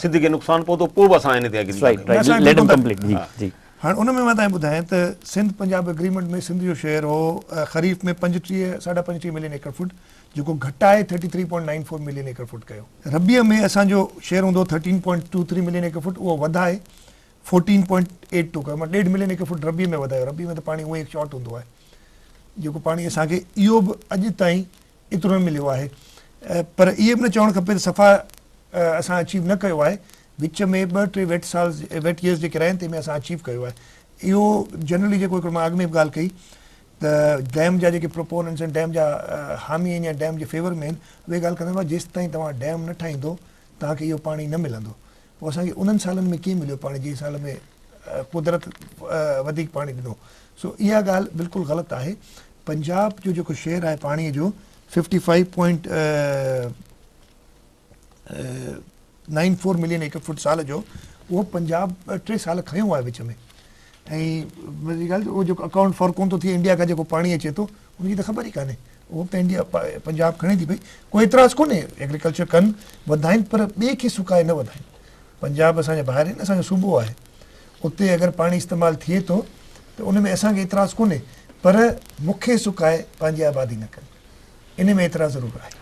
سنڌ کي نقصان پهتو پوء به اسان ان تي ايگري ڪندا آهيون. Let him complete جي جي. هاڻ ان ۾ مان تنهن ٻڌايان ته سنڌ پنجاب اگريمينٽ ۾ سنڌ جو شيئر هو خريف ۾ پنجٽيهه ساڍا پنجٽيهه ملين ايڪڙ فوٽ جيڪو گهٽائي thirty three point nine four million ايڪڙ فوٽ ڪيو. ربيع ۾ اسان جو شيئر هوندو هو thirteen point two three million ايڪڙ فوٽ اهو وڌائي فورٽين پوائنٽ ايٽ ٽو ڪيو معنيٰ ڏيڍ ملين ايڪڙ فوٽ ربيع ۾ وڌايو ربيع ۾ ته پاڻي هونئن ئي شارٽ هوندو آهي جيڪو پاڻي اسان کي اهو به اڄ تائين ايترو نه مليو آهي پر اهي به نه چوڻ کپي ته صفا اسان اچيو نه ڪيو آهي وچ ۾ ٻه ٽي ويٽ سال ويٽ ييئرز جيڪي رهيا آهن تنهن ۾ اسان اچيو ڪيو آهي اهو جنرلي جيڪو هڪڙو مان اڳ ۾ به ڳالهه ڪئي ته ڊيم جا جيڪي پروپوننس آهن ڊيم جا حامي آهن يا ڊيم جي فيور ۾ آهن اهي ڳالهه ڪندا هئا جيستائين توهان ڊيم نه ٺاهيندو توهان کي اهو پاڻي نه ملندو پوء اسان کي انهن سالن ۾ ڪيئن مليو پاڻي جنهن سال ۾ قدرت وڌيڪ پاڻي ڏنو سو اها ڳالهه بلڪل غلط آهي پنجاب جو جيڪو شيئر آهي پاڻي جو fifty five point nine four million ايڪڙ فوٽ سال جو اهو پنجاب ٽي سال کنيو آهي وچ ۾. ۽ مزي جي ڳالهه ته اهو جيڪو اڪائونٽ فار ڪونه ٿو ٿئي انڊيا کان جيڪو پاڻي اچي ٿو ان جي ته خبر ئي ڪانهي اهو ته انڊيا پنجاب کڻي ٿي پئي ڪو اعتراض ڪونهي ايگريڪلچر ڪن وڌائين پر ٻئي کي سڪائي نه وڌائين پنجاب اسان جي ڀائر آهن اسان جو صوبو آهي اتي اگر پاڻي استعمال ٿئي ٿو ته ان ۾ اسان کي اعتراض ڪونهي پر مون کي سڪائي پنهنجي آبادي نه ڪن ان ۾ اعتراض ضرور آهي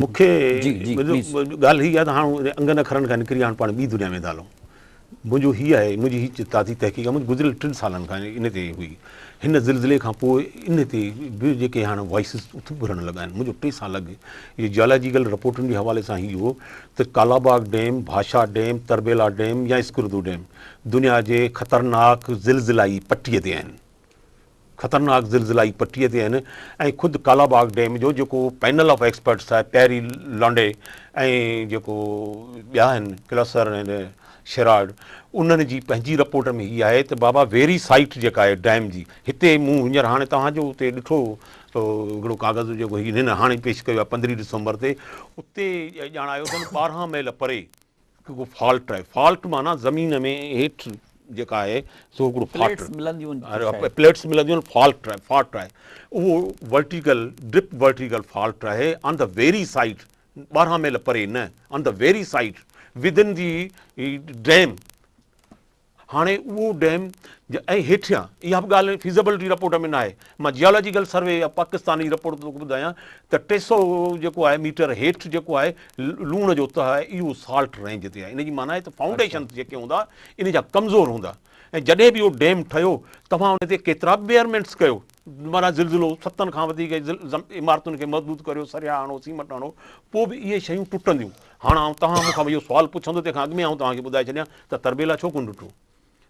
مون کي ڳالهه هي آهي ته هاڻ انگن اکرن کان نڪري هاڻ پاڻ ٻي دنيا ۾ ٿا هلون منهنجو هي آهي منهنجي هي تازي تحقيق آهي منهنجي گذريل ٽن سالن کان ان تي هئي هن زلزلي کان پوء ان تي به جيڪي هاڻ وائسز اڀرڻ لڳا آهن منهنجو ٽي سال اڳ جي جالاجيڪل رپورٽن جي حوالي سان هي هو ته Kalabagh dam Bhasha dam Tarbela dam يا اسڪردو ڊيم دنيا جي خطرناڪ زلزلائي پٽي تي آهن خطرناڪ زلزلائي پٽيء تي آهن ۽ خود ڪالاباغ ڊيم جو جيڪو پينل آف ايڪسپرٽس آهي پيري لانڊي ۽ جيڪو ٻيا آهن ڪلسر ۽ شيراڊ انهن جي پنهنجي رپورٽ ۾ هي آهي ته بابا ويري سائيٽ جيڪا آهي ڊيم جي هتي مون هينئر هاڻي توهان جو اتي ڏٺو هڪڙو ڪاغذ جيڪو هن هاڻي پيش ڪيو آهي پندرهين ڊسمبر تي اتي ڄاڻايو اٿن ٻارهن ميل پري هڪ فالٽ آهي فالٽ معنيٰ زمين ۾ هيٺ جيڪا آهي سو هڪڙو فالٽ پليٽس ملنديون آهن فالٽ آهي فالٽ آهي اهو ورٽيڪل ڊپ ورٽيڪل فالٽ آهي آن د ويري سائيڊ ٻارهن ميل پري نه on the very side within the dam هاڻي اهو ڊيم ۽ هيٺيان اها به ڳالهه فيزيبلٽي رپورٽ ۾ ناهي مان جيالاجيڪل سروي يا پاڪستاني رپورٽ توکي ٻڌايان ته ٽي سؤ جيڪو آهي ميٽر هيٺ جيڪو آهي لوڻ جو تهه آهي اهو سالٽ رينج تي آهي ان جي معنيٰ آهي ته فائونڊيشنز جيڪي هوندا ان جا ڪمزور هوندا ۽ جڏهن به اهو ڊيم ٺهيو توهان ان تي ڪيترا به بيئرمينٽس ڪيو مرحله زلزلو، ستن کان وڌيڪ عمارتن کي مضبوط ڪريو، سريا هڻو، سيمنٽ هڻو، پوء به اهي شيون ٽٽنديون. هاڻ آئون توهان مون کان اهو سوال پڇندو، تنهن کان اڳ ۾ آئون توهان کي ٻڌائي ڇڏيان ته تربيلا ڇو ڪونه ٽٽو؟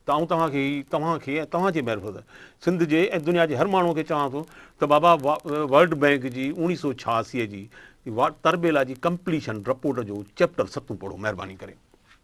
ته آئون توهان کي هي، توهان کي ۽ توهان جي معرفت، سنڌ جي ۽ دنيا جي هر ماڻهوء کي چوان ٿو ته بابا ورلڊ بئنڪ جي اوڻيهه سؤ ڇهاسي جي تربيلا جي ڪمپليشن رپورٽ جو چيپٽر ستون پڙهو مهرباني ڪري.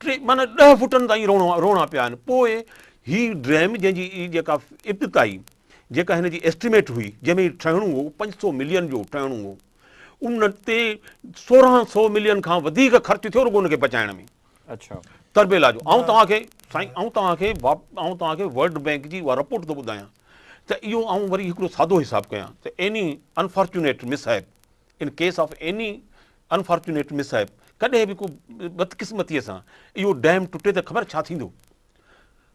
ٽي معنيٰ ڏهه فٽن تائين روڻا روڻا پيا آهن پوء هي ڊيم جنهن جي جيڪا ابتدائي جيڪا هن جي اسٽيميٽ هئي جنهن ۾ ٺهڻو هو پنج سو ملين جو ٺهڻو هو ان تي سورهن سو ملين کان وڌيڪ خرچ ٿيو رڳو ان کي بچائڻ ۾ اچھا تربيلا جو آئون توهان کي سائين آئون توهان کي آئون توهان کي ورلڊ بئنڪ جي اها رپورٽ ٿو ٻڌايان ته اهو آئون وري هڪڙو سادو حساب ڪيان ته any unfortunate mishap in case of any unfortunate miss صاحب ڪڏهن به ڪو بدقسمتي سان اهو ڊيم ٽٽي ته خبر ڇا ٿيندو.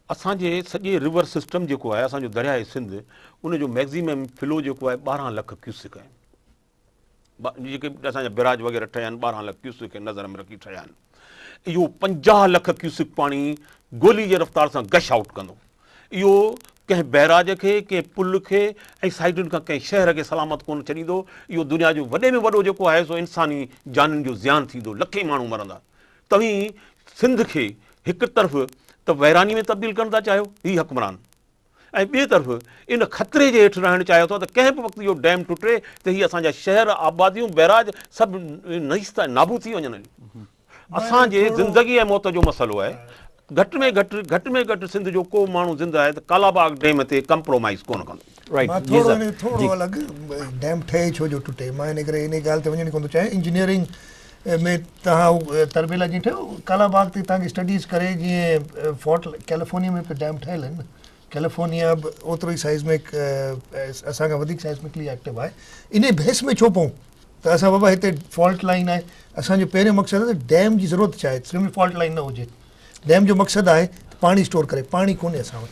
اسان جي سڄي رور سسٽم جيڪو آهي اسان جو درياهه سنڌ ان جو ميڪزيمم فلو جيڪو آهي ٻارهن لک ڪيوسڪ آهي. جيڪي اسان جا بيراج وغيره ٺهيا آهن ٻارهن لک ڪيوسڪ کي نظر ۾ رکي ٺهيا آهن. اهو پنجاهه لک ڪيوسڪ پاڻي گولي جي رفتار سان گش آئوٽ ڪندو. اهو ڪنهن بئراج کي، ڪنهن پل کي ۽ سائيڊن کان ڪنهن شهر کي سلامت ڪونه ڇڏيندو. اهو دنيا جو وڏي ۾ وڏو جيڪو آهي سو انساني جانين جو زيان ٿيندو، لکين ماڻهو مرندا. توهين سنڌ کي هڪ طرف ته ويراني ۾ تبديل ڪرڻ ٿا چاهيو، هي حڪمران. ۽ ٻئي طرف ان خطري جي هيٺ رهڻ چاهيو ٿا ته ڪنهن به وقت اهو ڊيم ٽٽي ته هي اسان جا شهر، آباديون، بئراج سڀ نيست ۽ نابود ٿي وڃن هليون. اسان جي زندگي ۽ موت جو مسئلو آهي. گهٽ ۾ گهٽ گهٽ ۾ گهٽ سنڌ جو ڪو به ماڻهو زنده آهي ته ڪالاباغ ڊيم تي ڪمپرومائيز ڪونه ڪندو. مان ٿورو ان کي ٿورو الڳ، ڊيم ٺهي ڇو جو ٽٽي، مان ان ڪري انهي ڳالهه تي وڃڻ ڪونه ٿو چاهيان، انجنيئرنگ ۾ تهان تربيلا جي ٺهيو ڪالا باغ تي تهان جي اسٽڊيز ڪري جيئن فورٽ ڪيليفورنيا ۾ به ڊيم ٺهيل آهن ڪيليفورنيا به اوترو ئي سائزمڪ اسان کان وڌيڪ سائزمڪلي ايڪٽو آهي انهي بحث ۾ ڇو پون ته اسان بابا هتي فالٽ لائن آهي اسان جو پهريون مقصد آهي ته ڊيم جي ضرورت ڇا آهي سنڌ ۾ فالٽ لائن نه هجي ڊيم جو مقصد آهي پاڻي اسٽور ڪري پاڻي ڪونهي اسان وٽ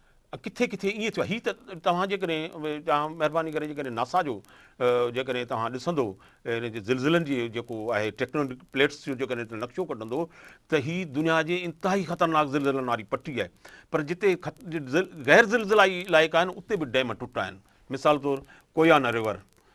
ڪٿي ڪٿي ائين ٿيو آهي هي ته توهان جيڪڏهن توهان مهرباني ڪري جيڪڏهن ناسا جو جيڪڏهن توهان ڏسندو ان جي زلزلن جي جيڪو آهي ٽيڪٽونڪ پليٽس جو جيڪڏهن نقشو ڪڍندو ته هي دنيا جي انتهائي خطرناڪ زلزلن واري پٽي آهي پر جتي غير زلزلائي علائقا آهن اتي به ڊيم ٽٽا آهن مثال طور ڪويانا ريور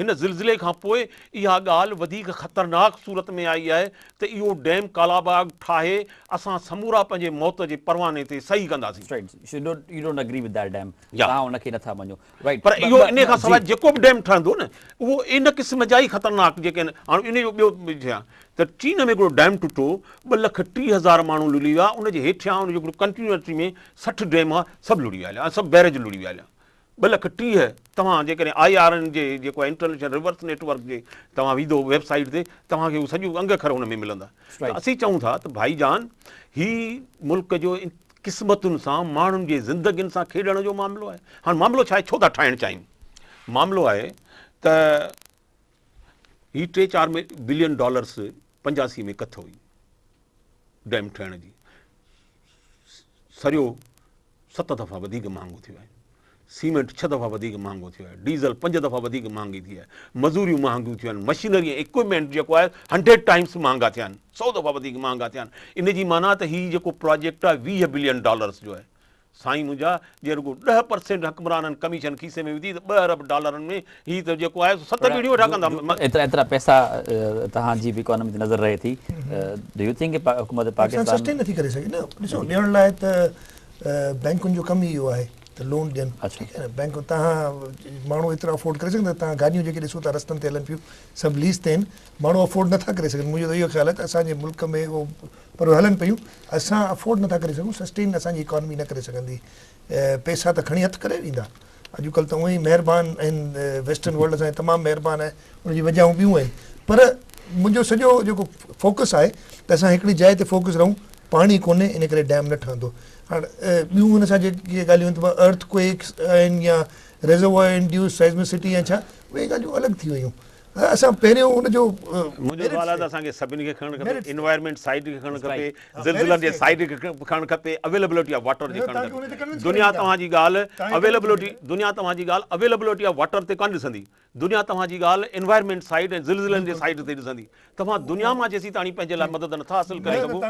هن زلزلي کان پوء اها ڳالهه وڌيڪ خطرناڪ صورت ۾ آئي آهي ته اهو ڊيم ڪالاباغ ٺاهي اسان سمورا پنهنجي موت جي پرواني تي صحيح ڪنداسين. پر اهو انهي کان سواء جيڪو به ڊيم ٺهندو نه اهو ان قسم جا ئي خطرناڪ جيڪڏهن هاڻ انهي جو ٻيو ڇا ته چين ۾ هڪڙو ڊيم ٽٽو ٻه لک ٽيهه هزار ماڻهو لڙهي ويا ان جي هيٺيان ان جو هڪڙو ڪنٽينيوٽري ۾ سٺ ڊيم هئا سڀ لڙهي ويا هليا سڀ بيريج لڙهي ويا هليا ٻه لک ٽيهه، توهان جيڪڏهن آء آر اين جي جيڪو آهي انٽرنيشنل ريورس نيٽ ورڪ جي توهان ويندو ويب سائيٽ تي توهان کي هو سڄو انگ اکر ان ۾ ملندا ته اسين چئون ٿا ته ڀائي جان هي ملڪ جو قسمتن سان ماڻهن جي زندگين سان کيڏڻ جو معاملو آهي هاڻ معاملو ڇا آهي ڇو ٿا ٺاهڻ چاهيون معاملو آهي ته هي ٽي چار بلين ڊالرس پنجاسي ۾ ڪٿ هئي ڊيم ٺهڻ جي سريو ست دفعا وڌيڪ مهانگو ٿيو آهي، سيمينٽ ڇهه دفعا وڌيڪ مهانگو ٿيو آهي، ڊيزل پنج دفعا وڌيڪ مهانگي ٿي آهي، مزوريون مهانگيون ٿيون آهن، مشينري ۽ اڪوپمينٽ جيڪو آهي هنڊريڊ ٽائيمس مهانگا ٿيا آهن، سؤ دفعا وڌيڪ مهانگا ٿيا آهن، ان جي معنيٰ ته هي جيڪو پراجيڪٽ آهي ويهه بلين ڊالرس جو آهي. سائين منهنجا جي رڳو ڏهه پرسينٽ حڪمرانن ڪميشن کيسي ۾ وڌي ته ٻه ارب ڊالرن ۾ هي ته جيڪو آهي سو ست ويڊيو ويٺا ڪندا. ايترا ايترا پئسا توهان جي به اڪانومي تي نظر رهي ٿي ڊو يو ٿنڪ ڪي حڪومت پاڪستان. سسٽين نٿي ڪري سگهي نه ڏسو ڏيڻ لاء ته بينڪن جو ڪم ئي اهو آهي ته لون ڏين ٺيڪ آهي نه بينڪ تهان ماڻهو ايترا افورڊ ڪري سگهندا تهان گاڏيون جيڪي ڏسو ٿا رستن تي هلن پيون سڀ ليز تي آهن ماڻهو افورڊ نٿا ڪري سگهن منهنجو ته اهو خيال آهي ته اسان جي ملڪ ۾ پر هلن پيون اسان افورڊ نٿا ڪري سگهون سسٽين اسان جي اڪانومي نه ڪري سگهندي پئسا ته کڻي هٿ ڪري ويندا. اڄڪلهه ته اوهين مهربان آهن ويسٽرن ورلڊ اسان جي تمام مهربان آهي ان جي وجهون ٻيون آهن پر منهنجو سڄو جيڪو فوڪس آهي ته اسان هڪڙي جاء تي فوڪس رهون پاڻي ڪونهي ان ڪري ڊيم نه ٺهندو هاڻ ٻيون ان سان جيڪي ڳالهيون ته ارٿ ڪوئڪس آهن يا ريزروائر انڊيوس سائزمسٽي يا ڇا اهي ڳالهيون الڳ ٿي ويون اسان پهريون ان جو منهنجو سوال آهي ته اسان کي سڀني کي کڻڻ کپي انوائرمينٽ سائيڊ کي کڻڻ کپي زلزلن جي سائيڊ کي کڻڻ کپي اويلبلٽي آف واٽر جي کڻڻ کپي دنيا توهان جي ڳالهه اويلبلٽي دنيا توهان جي ڳالهه اويلبلٽي آف واٽر تي ڪانه ڏسندي دنيا توهان جي ڳالهه انوائرمينٽ سائيڊ ۽ زلزلن جي سائيڊ تي ڏسندي توهان دنيا مان جيسيتاڻي پنهنجي لاء مدد نٿا حاصل ڪري سگهو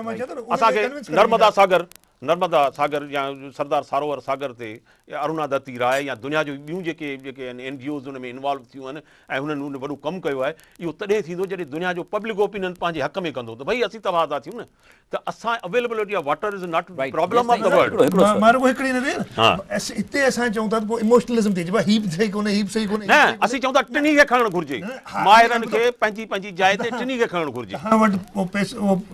اسان کي نرمدا ساگر نرمدا ساگر يا سردار ساروور ساگر تي اروناڌتي راء يا دنيا جون ٻيون جيڪي جيڪي آهن اين جي اوز ان ۾ انوالو ٿيون آهن ۽ هنن ان وڏو ڪم ڪيو آهي اهو تڏهن ٿيندو جڏهن دنيا جو پبلڪ اوپينن پنهنجي حق ۾ ڪندو ته ڀئي اسين تباهه ٿيون نه ته اسان availability of water is not problem of the world مارو ڪو هڪڙي نه وير هتي اسان چون ٿا ته پوء ايموشنلزم ٿي جبا هيپ صحيح ڪونه هيپ صحيح ڪونه نه اسين چون ٿا ٽنهي کي کڻڻ گهرجي ماهرن کي پنهنجي پنهنجي جاء تي ٽنهي کي کڻڻ گهرجي اسان وٽ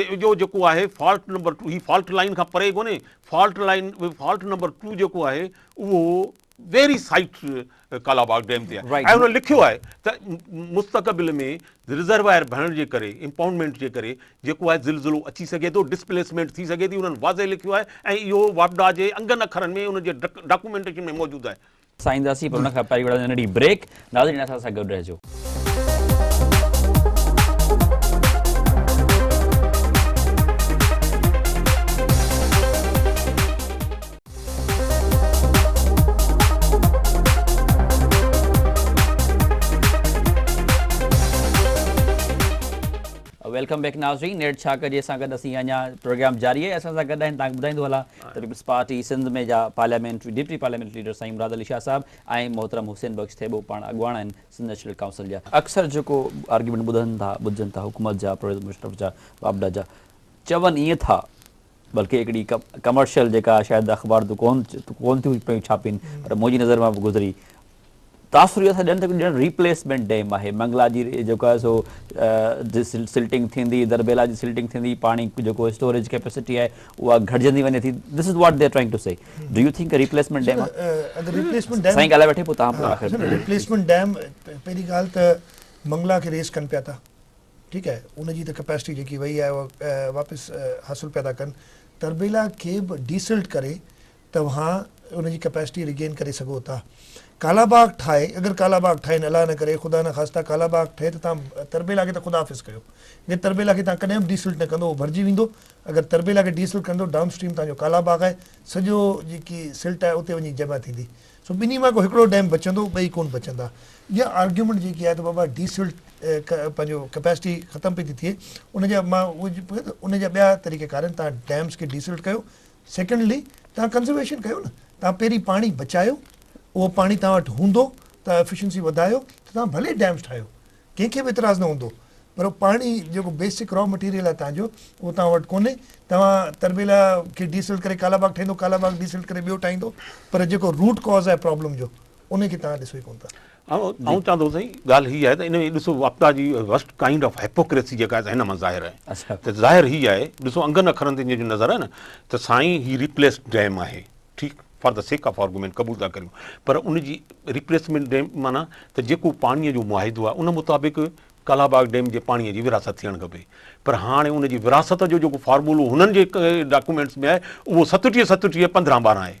اهو جيڪو آهي فالٽ نمبر ٽو هي فالٽ لائين کان پري ڪونهي fault line fault number two جيڪو آهي اهو ويري سائيٽ ڪالاباغ ڊيم تي آهي ۽ هن لکيو آهي ته مستقبل ۾ رزروائر ڀرڻ جي ڪري امپاؤنڊمينٽ جي ڪري جيڪو آهي زلزلو اچي سگهي ٿو ڊسپليسمينٽ ٿي سگهي ٿي انهن واضح لکيو آهي ۽ اهو واپڊا جي انگن اکرن ۾ ان جي ڊاڪومينٽيشن ۾ موجود آهي سان اينداسين پر ان کان پهرين وٺنداسين ننڍي بريڪ ناظرين اسان سان گڏ رهجو. ويلڪم بيڪ ناظرين نيٺ ڇا ڪجي سان گڏ اسين اڃا پروگرام جاري آهي اسان سان گڏ آهن تان ٻڌائيندو هلان. پيپلز پارٽي سنڌ ۾ جا پارليامينٽري ڊپٽي پارليامينٽري ليڊر سائين مراد علي شاهه صاحب ۽ محترم حسين بخش ٿيٻو پاڻ اڳواڻ آهن سنڌ نيشنل ڪائونسل جا. اڪثر جيڪو آرگيومينٽ ٻڌن ٿا ٻڌجن ٿا حڪومت جا پرويز مشرف جا واپڊا جا چون ائين ٿا بلڪه هڪڙي ڪمرشل جيڪا شايد اخبار تون ڪون ٿيون پيون ڇاپين پر منهنجي نظر مان به گذري تاثر اهو ٿا ڏين ته ڄڻ ريپليسمينٽ ڊيم آهي منگلا جي جيڪو آهي سو سلٽنگ ٿيندي دربيلا جي سلٽنگ ٿيندي پاڻي جيڪو اسٽوريج ڪيپيسٽي آهي اها گهٽجندي وڃي ٿي this is what they are trying to see do you think replacement dam اگر ريپليسمينٽ ڊيم سائين ڳالهائي وٺي پوء تان پوء آخر ريپليسمينٽ ڊيم پهرين ڳالهه ته منگلا کي ريس ڪن پيا ٿا ٺيڪ آهي ان جي ته ڪيپيسٽي جيڪي وئي آهي واپس حاصل پيا ٿا ڪن تربيلا کي به ڊيسلٽ ڪري توهان ان جي ڪپيسٽي ريگين ڪري سگهو ٿا ڪالا باغ ٺاهي اگر ڪالا باغ ٺاهي نه الله نه ڪري خدا نه خاصتا ڪالا باغ ٺهي ته توهان تربيلا کي ته خدا حافظ ڪيو جي تربيلا کي توهان ڪڏهن به ڊيسلٽ نه ڪندو اهو ڀرجي ويندو اگر تربيلا کي ڊيسلٽ ڪندو ڊائون اسٽريم توهان جو ڪالا باغ آهي سڄو جيڪي سلٽ آهي اتي وڃي جمع ٿيندي سو ٻنهي مان ڪو هڪڙو ڊيم بچندو ٻئي ڪون بچندا اها آرگيومينٽ جيڪي آهي ته بابا ڊيسلٽ پنهنجو ڪپيسٽي ختم پئي ٿي ٿئي ان جا مان ان جا ٻيا طريقه ڪار آهن توهان ڊيمز کي ڊيسلٽ ڪيو سيڪنڊلي توهان ڪنزرويشن ڪيو نه توهان پهرين پاڻي بچايو اهو پاڻي توهان وٽ هوندو توهان ايفيشنسي وڌايو ته توهان ڀلي ڊيمز ٺاهيو ڪنهن کي به اعتراض نه هوندو پر پاڻي جيڪو بيسڪ را مٽيريل آهي توهان جو اهو توهان وٽ ڪونهي توهان تربيلا کي ڊي سلٽ ڪري ڪالا باغ ٺهندو ڪالا باغ ڊي سلٽ ڪري ٻيو ٺاهيندو پر جيڪو روٽ ڪاز آهي پرابلم جو ان کي توهان ڏسو ئي ڪونه ٿا. آئون چوان ٿو سائين ڳالهه هي آهي ته ان ۾ ڏسو واپڊا جي ورسٽ ڪائنڊ آف هيپوڪريسي جيڪا آهي هن مان ظاهر آهي ته ظاهر هي آهي ڏسو انگن اکرن تي جو نظر آهي نه ته سائين هي ريپليسڊ ڊيم آهي ٺيڪ for the sake of argument قبول ٿا ڪريون پر ان جي ريپليسمينٽ ڊيم معنيٰ ته جيڪو پاڻيء جو معاهدو آهي ان مطابق ڪالا باغ ڊيم جي پاڻيء جي ورهاست ٿيڻ کپي پر هاڻي ان جي ورهاست جو جيڪو فارمولو هنن جي ڊاڪومينٽس ۾ آهي اهو ستٽيهه ستٽيهه پندرهن ٻارهن آهي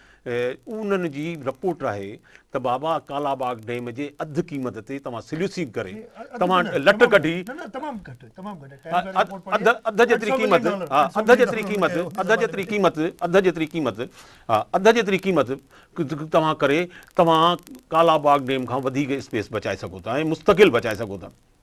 انهن جي رپورٽ آهي ته بابا ڪالا باغ ڊيم جي اڌ قيمت تي توهان سليوسينگ ڪري توهان لٽ ڪڍي اڌ اڌ جيتري قيمت ها اڌ جيتري قيمت اڌ جيتري قيمت اڌ جيتري قيمت ها اڌ جيتري قيمت توهان ڪري توهان ڪالا باغ ڊيم کان وڌيڪ اسپيس بچائي سگهو ٿا ۽ مستقل بچائي سگهو ٿا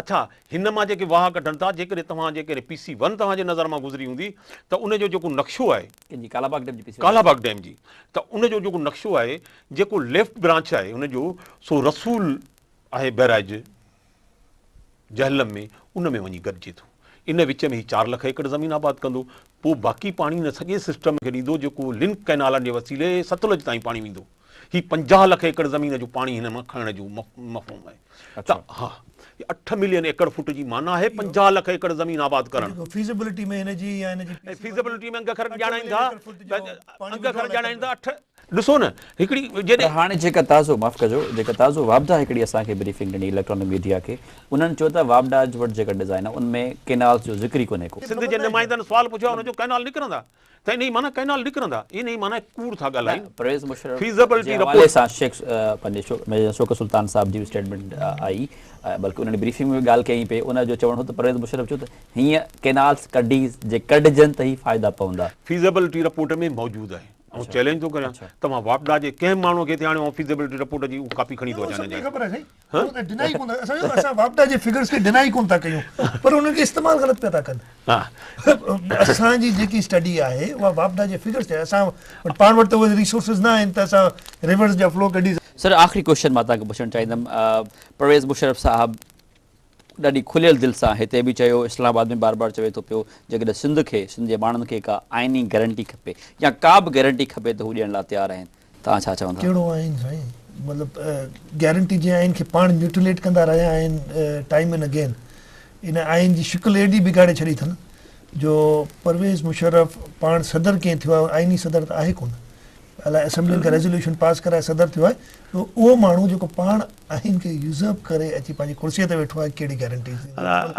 اڇا هن مان جيڪي واهه ڪڍن ٿا جيڪڏهن توهان جي ڪڏهن پي سي ون توهان جي نظر مان گذري هوندي ته ان جو جيڪو نقشو آهي. ڪنهن جي ڪالا باغ ڊيم جي P C one. Kala Bagh dam جي ته ان جو جيڪو نقشو آهي جيڪو ليفٽ برانچ آهي ان جو سو رسول آهي بئراج جهلم ۾ ان ۾ وڃي گڏجي ٿو ان وچ ۾ هي چار لک ايڪڙ زمين آباد ڪندو پوء باقي پاڻي ان سڄي سسٽم کي ڏيندو جيڪو لنڪ ڪئنالن جي وسيلي ستلج تائين پاڻي ويندو. هي پنجاهه لک ايڪڙ زمين جو پاڻي هن مان کڻڻ جو مفهوم آهي ته ها اٺ ملين ايڪڙ فوٽ جي معنيٰ آهي پنجاهه لک ايڪڙ زمين آباد ڪرڻ فيزيبلٽي ۾ هن جي يا هن جي فيزيبلٽي ۾ انگ اکر ڄاڻائين ٿا انگ اکر ڄاڻائين ٿا اٺ ڏسو نه هڪڙي جڏهن هاڻي جيڪا تازو معاف ڪجو جيڪا تازو واپڊا هڪڙي اسان کي بريفنگ ڏني اليڪٽرانڪ ميڊيا کي انهن چيو ته واپڊا وٽ جيڪا ڊزائين آهي ان ۾ ڪينالز جو ذڪر ئي ڪونهي ڪو. سنڌ جي نمائندن سوال پڇيو آهي ان جو ڪينال نڪرندا ته انهيء معنيٰ ڪئنال نڪرندا، انهيء معنيٰ ڪوڙ ٿا ڳالهائين، پرويز مشرف فيزيبلٽي جي حوالي رپورٽ. سان شيخ پنهنجي شو ميجر شوڪت سلطان صاحب جي به اسٽيٽمينٽ آئي بلڪه انهن بريفنگ ۾ به ڳالهه ڪئي پئي ان جو چوڻ هو ته پرويز مشرف چيو ته هيئن ڪئنالز ڪڍي جي ڪڍجن ته هي فائدا پوندا. فيزيبلٽي رپورٽ ۾ موجود آهي آئون چئلينج ٿو ڪريان توهان واپڊا جي ڪنهن ماڻهو کي هتي آڻيو آئون فيزيبلٽي رپورٽ جي هو ڪاپي کڻي ٿو اچان هن جي. اسان واپڊا جي فگرز کي ڊناء ڪونه ٿا ڪيون پر انهن کي استعمال غلط پيا ٿا ڪن اسان جي جيڪي اسٽڊي آهي اها واپڊا جي فگرز تي اسان وٽ پاڻ وٽ ته اهي ريسورسز نه آهن ته اسان ريورز جا فلو ڪڍي سر آخري ڪويشچن مان توهان کي پڇڻ چاهيندم پرويز مشرف صاحب ڏاڍي کليل دل سان هتي به چيو اسلام آباد ۾ بار بار چوي ٿو پيو جيڪڏهن سنڌ کي سنڌ جي ماڻهن کي ڪا آئيني گيرنٽي کپي يا ڪا به گيرنٽي کپي ته هو ڏيڻ لاء تيار آهن توهان ڇا چون ٿا؟ ڪهڙو آئين سائين؟ مطلب گيرنٽي جي آئين کي پاڻ ميوٽيليٽ ڪندا رهيا آهن ٽائيم اينڊ اگين ان آئين جي شڪل ايڏي بگاڙي ڇڏي اٿن جو پرويز مشرف پاڻ صدر ڪئين ٿيو آهي آئيني صدر ته آهي ڪونه الا اسيمبلين کي ريزوليوشن پاس ڪرائي صدر ٿيو آهي اهو ماڻهو جيڪو پاڻ آهن ڪي يوزرپ ڪري اچي پنهنجي ڪرسي تي ويٺو آهي ڪهڙي گيرنٽي جي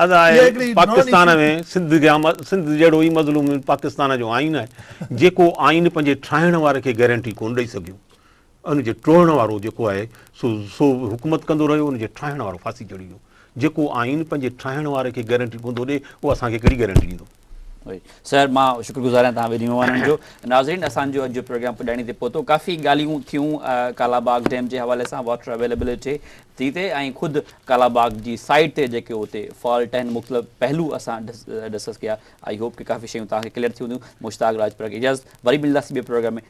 ادا آهي پاڪستان ۾ سنڌ جا سنڌ جهڙو ئي مظلوم پاڪستان جو آئين آهي جيڪو آئين پنهنجي ٺاهڻ واري کي گيرنٽي ڪون ڏئي سگهيو ان جي ٽوڙڻ وارو جيڪو آهي سو سو حڪومت ڪندو رهيو ان جي ٺاهڻ وارو ڦاسي چڙهي ويو جيڪو آئين پنهنجي ٺاهڻ واري کي گيرنٽي ڪون ٿو ڏئي اهو اسان کي ڪهڙي گيرنٽي ڏيندو سر مان شڪر گذار آهيان توهان ٻنهي مهمانن جو ناظرين اسان جو اڄ جو پروگرام پڄاڻي تي پهتو ڪافي ڳالهيون ٿيون ڪالا باغ ڊيم جي حوالي سان واٽر اويليبلٽي تي تي ۽ خود ڪالا باغ جي سائيڊ تي جيڪي اتي فالٽ آهن مختلف پهلو اسان ڊسڪس ڪيا آئي هوپ ڪي ڪافي شيون توهان کي ڪليئر ٿي هونديون مشتاق راجپر کي اجازت وري ملنداسي ٻي پروگرام ۾